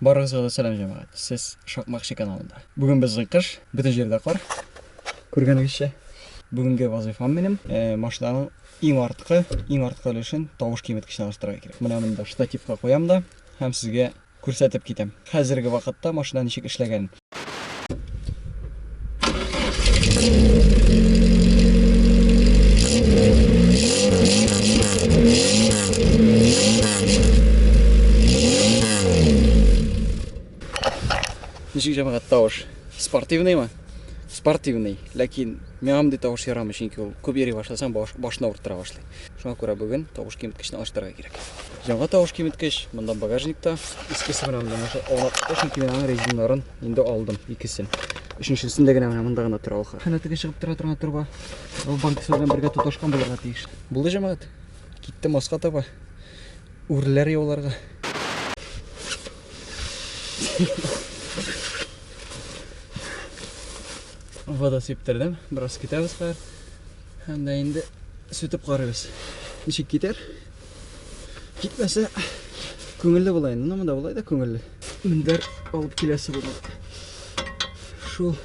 Барыгызга да сәлам җәмәгать, сез Шакмакчы каналында. Бүген безнең кыш, бөтен җирдә кар, күргәнегезчә. Бүгенге вазыйфам минем машинаның иң арткы, иң арткы өлешен тавыш киметкеченә алыштырырга кирәк. Менә монда штативка куям да һәм сезгә күрсәтеп китәм. Хәзерге вакытта машина ничек эшләгәнен. Ничек җәмәгать тавыш? Спортивныймы? Спортивный, ләкин миңа мондый тавыш ярамый, чөнки ул күп йөри башласаң, баш, башны авырттыра башлый. Шуңа күрә бүген тавыш киметкечне алыштырырга кирәк. Яңа тавыш киметкеч, монда багажникта, искесе менә монда нәрсә аулакта, чөнки мин аның резиннарын инде алдым, икесен. Өченчесендә генә менә монда гына тора ул. Хәнә теге чыгып тора торган труба. Ул банкасы белән бергә тоташкан булырга тиеш. Булды җәмәгать. Китте маска таба. Үрләр яуларга. Вода сиптердем. Бераз китәбез хәзер. Һәм дә инде сүтеп карыйбыз. Ничек китәр? Китмәсә, күңелле була инде. Монда болай да күңелле. Мендәр алып киләсе булды. Шул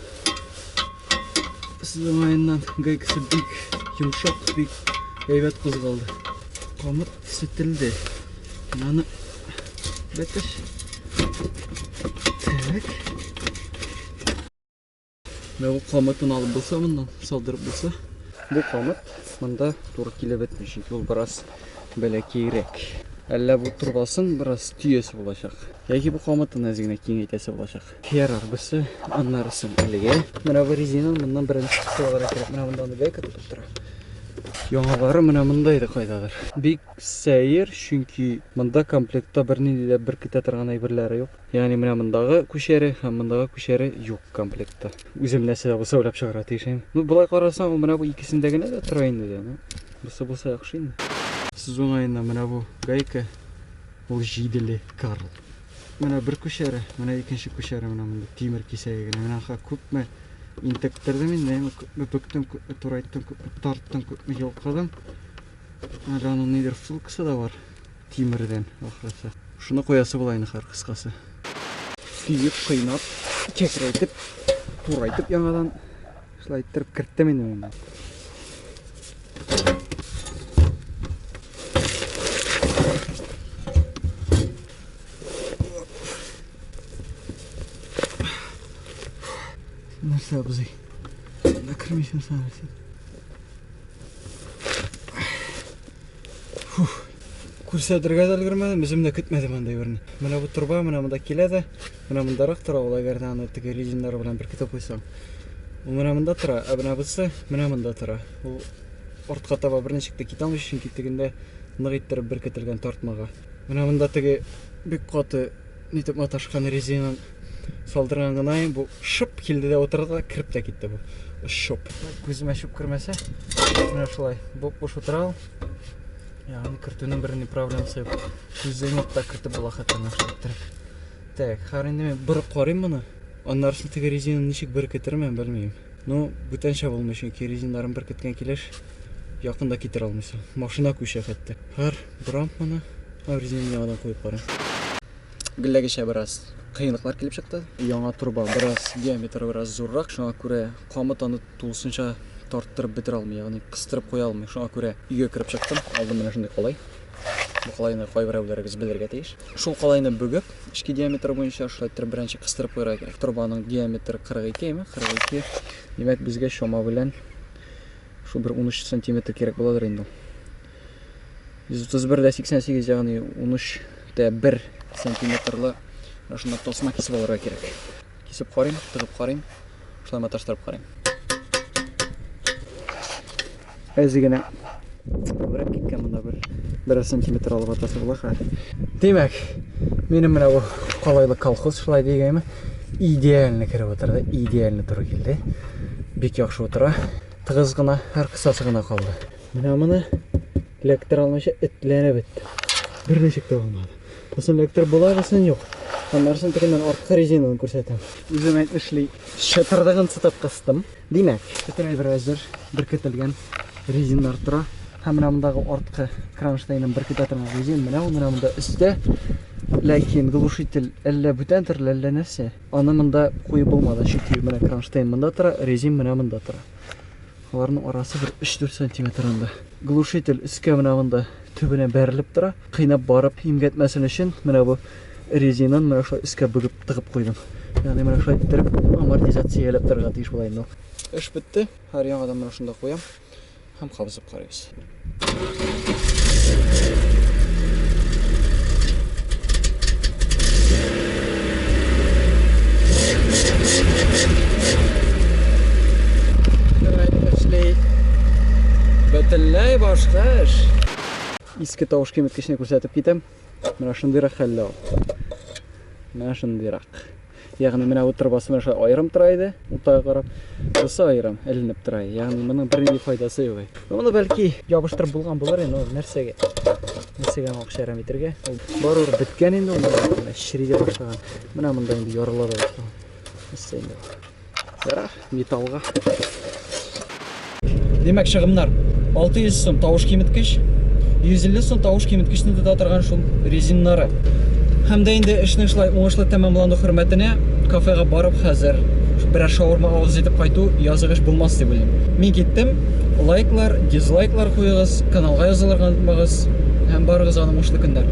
сызымаеннан гайкасы бик йомшак, бик әйбәт кузгалды. Камыт сүтелде. Аны бәтеш. Так. Менә бу камытын алып булса моннан, салдырып булса. Бу камыт монда туры килеп бетми, чөнки ул бераз бәләкәйрәк. Әллә бу торбасын бераз төясе булачак. Яки бу камытын әз генә киңәйтәсе булачак. Ярар, берсе аннарысын әлегә. Менә бу резина моннан беренче кысаларга кирәк. Менә монда аны гайка тотып тора. Яңалары менә монда иде кайдадыр. Бик сәер, чөнки монда комплектта бернинди дә беркетә торган әйберләре юк. Ягъни менә мондагы күчәре һәм мондагы күчәре юк комплектта. Үзем нәрсә дә булса уйлап чыгарга тиеш инде. Ну, болай карасаң, ул менә бу икесендә генә дә тора инде дә. Ну, бусы булса яхшы инде. Сез уңаеннан менә бу гайка ул җиделе Карл. Менә бер күчәре, менә икенче күчәре менә монда тимер кисәге генә. Менә ха күпме интектердем инде, әмма күпме бүктем, күпме турайттым, күпме тарттым, күпме йолкыдым. Әле аның нидер функциясе дә бар. Тимердән, ахрысы. Шуны куясы була инде хәр кыскасы. Сөеп, кыйнап, кәкрәйтеп, турайтып яңадан шулай иттереп керттем инде мин. Нәрсә абзый? Накрымисың сәнәрсен. Фух, күрсәтергә дә өлгермәдем, үзем дә көтмәдем андый берне. Менә бу торба менә монда килә дә, менә мондарак тора ул, әгәр дә аны теге резиннар белән беркетеп куйсаң. Ул менә монда тора, ә менә бусы менә монда тора. Ул артка таба берничек тә китә алмыйча, чөнки тегендә нык иттереп беркетелгән тартмага. Менә монда теге бик каты Нитеп маташкан резинын салдырган гына ем, бу шып килде дә утырды да кереп тә китте бу. Шоп. Күземә чүп кермәсә, менә шулай буп-буш утыра ул. Ягъни кертүнең бер ни проблемасы юк. Күздән юк та кертеп була хәтта менә шулай иттереп. Так, хәзер инде мин бер карыйм моны. Аннары соң теге резинаны ничек беркетермен, белмим. Ну, бүтәнчә булмый, чөнки резиннарын беркеткән килеш якында китер алмыйсың. Машина күчә хәтта. Хәзер Дрампаны резинга да куеп карыйм. Гелләгечә бераз кыенлыклар килеп чыкты. Яңа турба бераз диаметры бераз зуррак, шуңа күрә камыт аны тулысынча тарттырып бетерә алмый, ягъни кыстырып куя алмый. Шуңа күрә өйгә кереп чыктым. Алдым менә шундый калай. Бу калайны кайберәүләрегез белергә тиеш. Шул калайны бүгеп, эчке диаметры буенча шулай итеп беренче кыстырып куярга кирәк. Турбаның диаметры 42 ме? 42. Димәк, безгә чама белән шул бер 13 сантиметр кирәк буладыр инде. 131 дә 88 ягъни 13 дә 1 сантиметрлы менә шунда тасма кисеп алырга кирәк. Кисеп карыйм, тыгып карыйм, шулай маташтырып карыйм. Әзе генә күбрәк киткән монда бер бер сантиметр алып атасы була хәл. Димәк, минем менә бу калайлы колхоз шулай дигәнме? Идеально кереп утыра да, идеально туры килде. Бик яхшы утыра. Тыгыз гына, һәр кысасы гына калды. Менә моны электр алмыйча этләре бетте. Бер ничек тә булмады. Бусын электр була бесын юк. Аннарсын тегеннән арткы резинаны күрсәтәм. Үзем әйтмешли, чатырдыгын сытып кыстым. Димәк, бөтен әйбер әзер, беркетелгән резиннар тора. Һәм менә мондагы арткы кронштейнын беркетә торган резин менә ул менә монда өстә. Ләкин глушитель әллә бүтән төрле, әллә нәрсә. Аны монда куеп булмады, чөнки менә кронштейн монда тора, резин менә монда тора. Аларның арасы бер 3-4 сантиметр анда. Глушитель өскә менә монда төбенә бәрелеп тора. Кыйнап барып имгәтмәсен өчен менә бу резинаны менә шулай өскә бөгеп тыгып куйдым. Ягъни менә шулай иттереп амортизацияләп торырга тиеш була инде. Эш бетте. Һәр яңадан менә шунда куям һәм кабызып карыйбыз. бөтенләй башка эш иске тавыш киметкечне күрсәтеп китәм менә шундыйрак хәлдә ул менә шундыйрак Ягъни менә бу торбасы менә шулай аерым тора иде, уртага карап. Бусы аерым эленеп тора. Ягъни моның бернинди файдасы юк. Моны бәлки ябыштырып булган булыр инде, ул нәрсәгә? Нәрсәгә моңа шәрәм итергә? Ул барыр биткән инде, ул чириде башлаган. Менә монда инде ярылар башлаган. Нәрсә инде? Ярар, металлга. Димәк, чыгымнар 600 сум тавыш киметкеч, 150 сум тавыш киметкечне тота торган шул резиннары. Һәм дә инде эшнең шулай уңышлы тәмамлану хөрмәтенә кафега барып хәзер берәр шаурма авыз җитеп кайту языгыш булмас дип уйлыйм. Мин киттем. Лайклар, дизлайклар куегыз, каналга язылырга онытмагыз һәм барыгызга уңышлы көннәр.